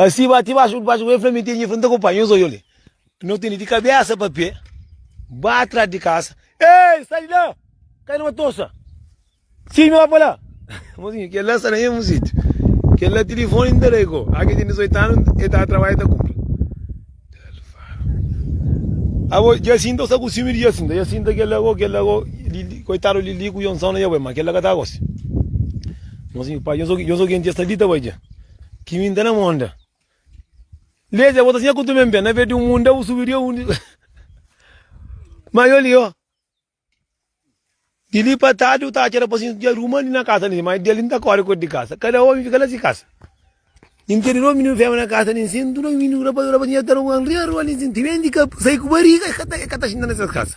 Asi bati baxu baxu ku el, fla minti, nhi, fla, N ta konpanha, nhos oiu li. N ota li di kabesa pa pe, ba tras di kasa. Ei, sai di la! Kai na matosa! Sigi mi la pa la! Mozinhu, kel la sta na mesmu sitiu. Kel la tilifoni N ta da-i ko. Ora ki el ten 18 anu, el ta trabalha, ta kunpra. Abo, Jasinta, bu sta ku siumi di Jasinta. Jasinta, kel la ko, kel la ko, Lili, koitadu di Lili ku Jonson na dja bai, ma kel la ka ta gosi. Mozinhu, pai, nhos oki, nhos oki, nti es sta li ta bai dja. Ki mi nta na monda. Leza ya botas nha kutu men ben. Na vedi un munda bu subi dia undi. Ma yo li yo. Di li pa tadi u ta atxa rapasi nta dia ruma li na kasa ni. Ma dia li nta kori kodi di kasa. Kada omi fika la si kasa. Nta di dos mininu femi na kasa ni nsin. Dos mininu rapasi rapasi nha ta ruma nria rua ni nsin. Timenti ka sai ku bariga e ka ta xinta na ses kasa.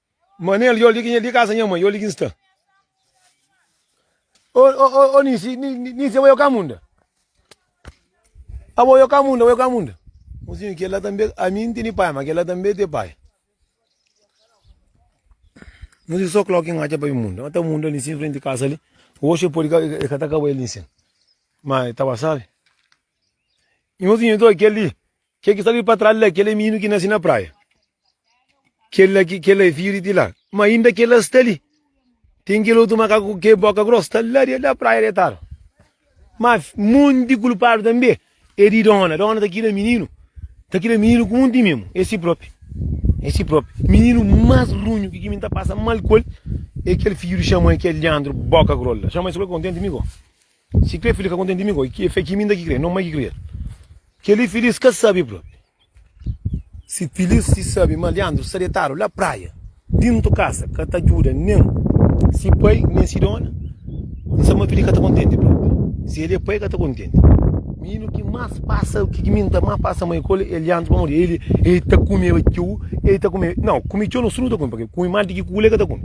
Manel, Yo ligi nha di kasa nha mãe, yo ligi nsta. Ô ô ô Nisi, Nisi abo yo ka munda? Abo yo ka munda, abo yo ka munda? Mozinho, kel la tanbe, ami N tene pai, ma kel la tanbe te pai. Mozinho, so kloki N atxa pa i munda. Nta munda li nsin frenti kasa li, oxi e podi ka, e ka ta kaba el li nsin. Ma e ta ba sabe. Nhozinho, Nto kel li, Kel ki sta li pa tras la, kel é mininu ki nase na praia. Kel la, kel la é fidju di Tilá. Ma inda kel la sta li, ten kel otu makaku ki é boka gros, sta la di la praia detadu. Ma monti di kulpadu tanbe é di dona. Dona ta kida mininu, ta kida mininu ku monti mimu. É si propi, é si propi. Mininu mas runhu ki ki mi ta pasa mal ku el é kel fidju di Xamuel ki é liandru, boka gros la. Xamuel sikur kontenti mi go. Si kre fili ka kontenti mi goi, ki efet ki mi inda ki kre? Non mai ki kre-l. Kel-li filis ka sabe propi. Si filis si sabe ma Liandru sta detadu la praia, dintu kasa, ka ta djuda nen si pai nen si dona, N sabe ma fili ka ta kontenti propi. Si el e pai, ka ta kontenti. Mininu ki mas pasa, ki ki mi N ta mas pasa mai ku-l e Liandru, pamodi el e ta kumeba txeu, e ta kume, non, kume txeu non, su nu ta kume, paske kume mal di ki kula el ka ta kume.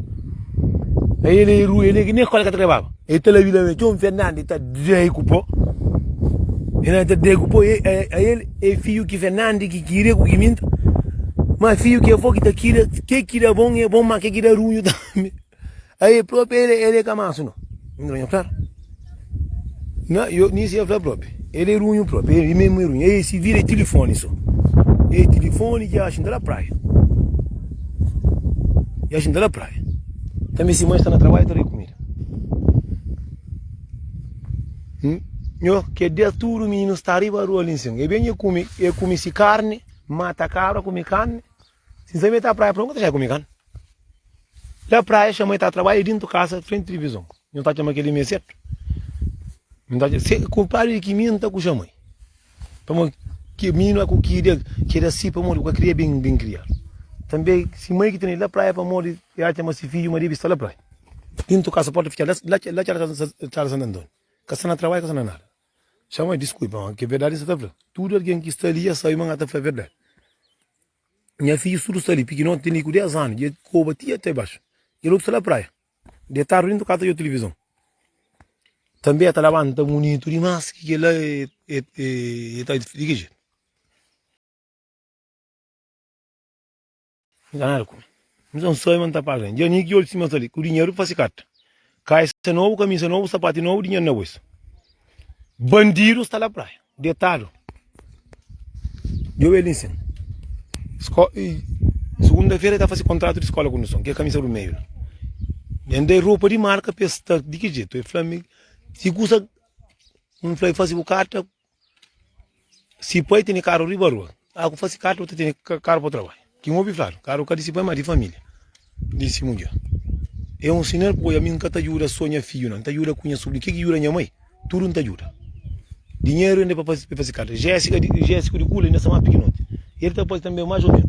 Ai el e ru, el e ki nen skola el ka ta lebaba. E ta la vida me txon fernandi ta dai ku po e na ta dai ku po a el e fiu ki fernandi ki kira ku ki minta ma fiu ki avó ki ta kira ke ki da bon e bon ma ke ki da runhu tambi a e propi el el e ka mansu no na yo nisi ya fla propi el e runhu propi el memu e runhu e si vira e tilifoni so e tilifoni ki axin ta la praia e axin ta la praia tambi si ma sta na trabadju ta dai kumida. Nho, ke dia tudo mininu sta riba rua ali nsin, e ben e kume, e kume si karne, mata kabra, kume karne, si nsabe e ta praia, pronto, e kume karne, la praia e xama e ta trabalha, e dintu kasa frenti tilivizon, nho ta txoma keli me setu, nho ta txoma, se, kunpradri di ki mi nta kuxa mai. Pamodi ki mininu aku ki da ke da si pamodi ku ka kria bin bin kria. Tanbe si mai ki tene la praia pamodi e atxa ma si fiju ma debi sta la praia. Dintu kasa porta fica la ke la ke Estrada Santu Antoniu. Ka sta na trabalhu ka sta na nada. Txa ma diskulpa ma ke verdadi nsa ta fla. Tudu algin ki sta li ya sabi ma na ta fla verdadi. Nha fijus tudu sta li, pikinoti ten li ku 10 anu, dje koba ti ate baxu. Kel otu sta la praia. Detadu dentu kasa djo tilivizon Tanbe e ta labanta munitu dimas ki kela e ta di ki jetu N ka nada ku el N sa N sabe ma N ta paga el Dja ni ki ol sima sali ku diñeru pa sikata Kaisa nobu, kamisa nobu, sapati nobu, diñeru na bolsu Bandidu sta la praia Detadu. Djobe el insin. Sko i Segunda fera el ta fase kontratu di skola ku nu son, kel kamisa du meiu la. Nen da el ropa di marka pa el sta di ki jetu. El fla mi, si kusa, N fla i fase bu karta, si pai tene karu riba rua, Ah ku fasi katra bu ta tene karu pa trabadja. Ki N obi fladu, karu ka di si pai, ma di familia di si mudjer. E un sinal poi ami N ka ta djuda so nha fidju na, N ta djuda ku nha subrinu. Ke ki djuda nha mai? Tudu N ta djuda. Dinheru inda pa pa fasi katra. Jessica di Jessica di kula inda sa ma pikinoti. El ta fasi tambe mas o menu.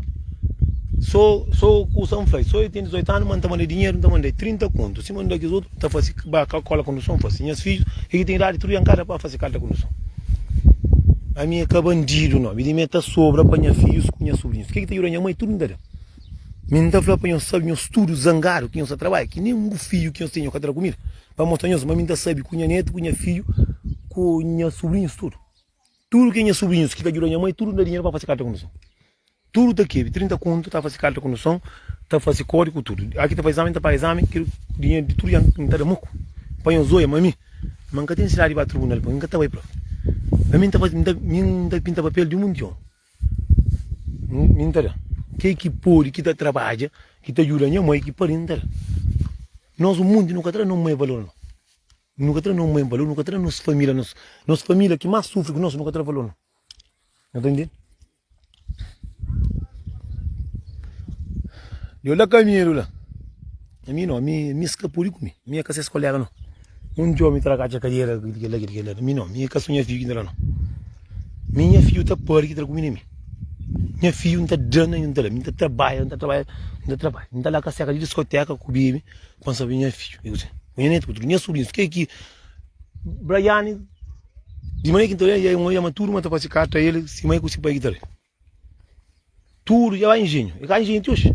So so kusa N fla-i, so e tene 18 anu ma N ta manda-i dinheru, N ta manda-i 30 kontu, sima N da kes otu. ta fase ba ka kola konduson fase nhas fidju e ki ten idadi tudu ya nkada pa fase kalta konduson ami e ka bandidu no mi di mi e ta sobra pa nha fidjus ku nha sobrinhus ke ki ta djuda nha mai tudu nkada mi nta fla pa nhos sabi nhos tudu zangadu ki nhos ta trabadja ki nen un bu fidju ki nhos ten nhos ka ta da kumida pa mostra nhos ma mi nta sabi ku nha netu ku nha fidju ku nha sobrinhus tudu Tudo que nha sobrinhos que ta ajuda nha mãe, tudo dá dinheiro para fazer carta condução. Tudo tá aqui, 30 conto, tá fazer carta condução, tá fazer código, tudo. Aqui tá fazer exame, tá para exame, que dinheiro de tudo já não tá da muco. Põe os olhos, mami, mas nunca tem necessidade de ir para tribunal, porque nunca tá vai, prof. Mas mim tá fazer, mim tá, mim tá pinta papel de um mundial. Mim tá da. Que que pode, que tá trabalha, que tá ajuda nha mãe, que pode, não tá da. Nós o mundo nunca tá da, não mãe valor não. Nu ka tra nos mãe valor, nu ka tra nos família, nos família ki más sufri ku nos, nu ka tra valor no. Nu ta ntende? Deu la kamedu la. Ami no, ami, ami es ka pode ku mi, ami e ka ses kolega no. Un dia omi ta da katxa kadera ki di kel la, ki di kel la. Mi no, mi e ka so nha fidju ki inda la no. Mi nha fidju ta pâdi ki tra ku mi na mi. Nha fidju N ta da na N ta da, mi N ta trabadja, N ta trabadja, N ta trabadja. N ta la ka seka di diskoteka ku bebe, Ku N sabe nha fidju, ku nha netu, ku tudu nha subrinhus, ke ki Braiane, di manera ki N ta oja el, un oja maturu, ma ta fase karta el sima el ku se pai ki ta ben. Tudu dja bai injenhu, e ka injenhu ti oji,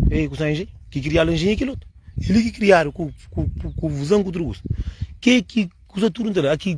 e ku san injenhu, ki kriadu injenhu e kel otu, e li ki kriadu ku vuzan ku tudu kusa, ke ki kusa tudu N ta da, ki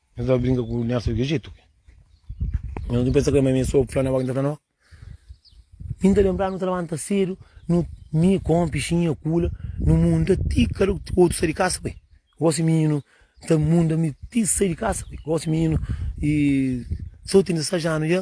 Nhos dja brinka ku nhas sógru Ijitu ki? Nhos nu pensa ma mi sô fla nhas avó ki N ta fla no? Mi N ta lenbra nu ta labanta sédu, nu, mi, kónpi, xinha, kula, nu munda ti kada otu sai di kasa bai. Gósi mininu N ta munda mi ti sai di kasa bai. Gósi mininu i sô ten 16 anu dja.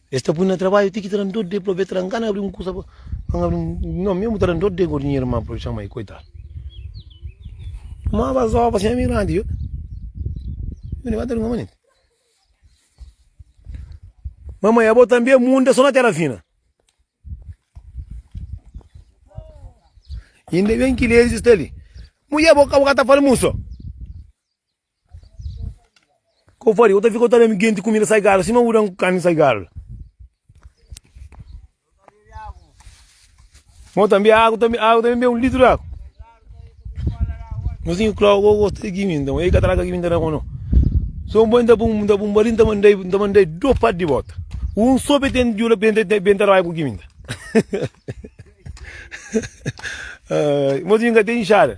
Es ta pui na trabadju ti ki ta da-m dor de plobe, ta da-m gana abri un kusa pa N abri un, no, memu ta da-m dor de gosi nha irma poi txoma el, koitadu. Tumaba zoba si nha mei grandi yo, mi levanta di un manenti, Mamai, abo tanbe munda so na tera fina? Inda ben ki Lezi sta li, Mudjer, bo ka bu ka ta falmuso? K'o fale, k'o ta fika, k'o ta ben genti kumida sai galu, sima udan ku karni sai galu. Mo tanbe agu, tanbe agu, tanbe ben un litru d'agu. Mo sin klau k'o gosta di kimi, nton ei ka traga kimi nta na kono. So un boi nta pun, nta pun bali, nta mandai, nta mandai do pas di bota. Un so be ten jula ben, ben tarbai ku kimi nta. Mo sin ka ten inxada.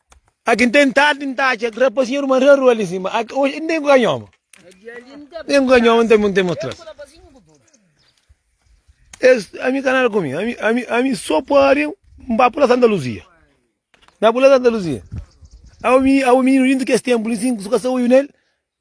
Aki n ten tardi n ta atxa rapazinhu a ruma rarua ali sima. Aki, oxi, n ten ku kanhoma. Tem com a minha mãe, tem um tempo atrás. A mim canal comigo, a mim, a mim, a mim só pode para pular Santa Luzia. Na pular Santa Luzia. Ao menino, ao menino dentro que esse tempo, ele sim, suka sa uyu nele.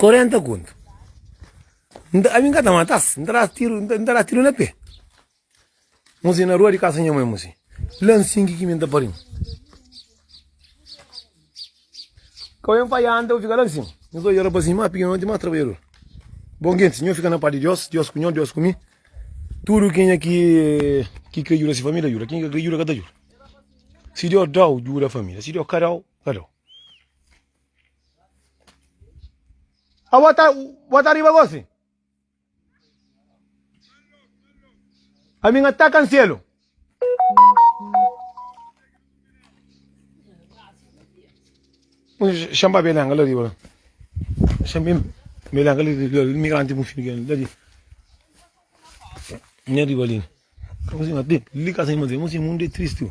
40 kontu. Nta, ami nka ta matas, nta das tiru, nta, nta das tiru na pé. Musi na rua di kasa nha mãe musi. La nsin ki ki mi nta parin. Kau em fai anda, bu fika la nsin. Nhos doi era basin, ma piki noti, ma trabadjador. Bon gentis, nho fika na padi Dios, Dios ku nho, Dios ku mi. Tudu kenha ki, ki kre djuda si família, djuda. Kenha ki ka kre djuda, ka ta djuda. Si Dios dau, djuda família. Si Dios ka dau, ka dau. A bo ta, bo ta riba gosi? A mi nga taka nselu. Xamba belanga la riba. Xambim belanga la riba. Migrante mu filho la riba. Nha riba ali. Como assim, mas tem, liga assim, mas tem, mas tem, mundo é triste.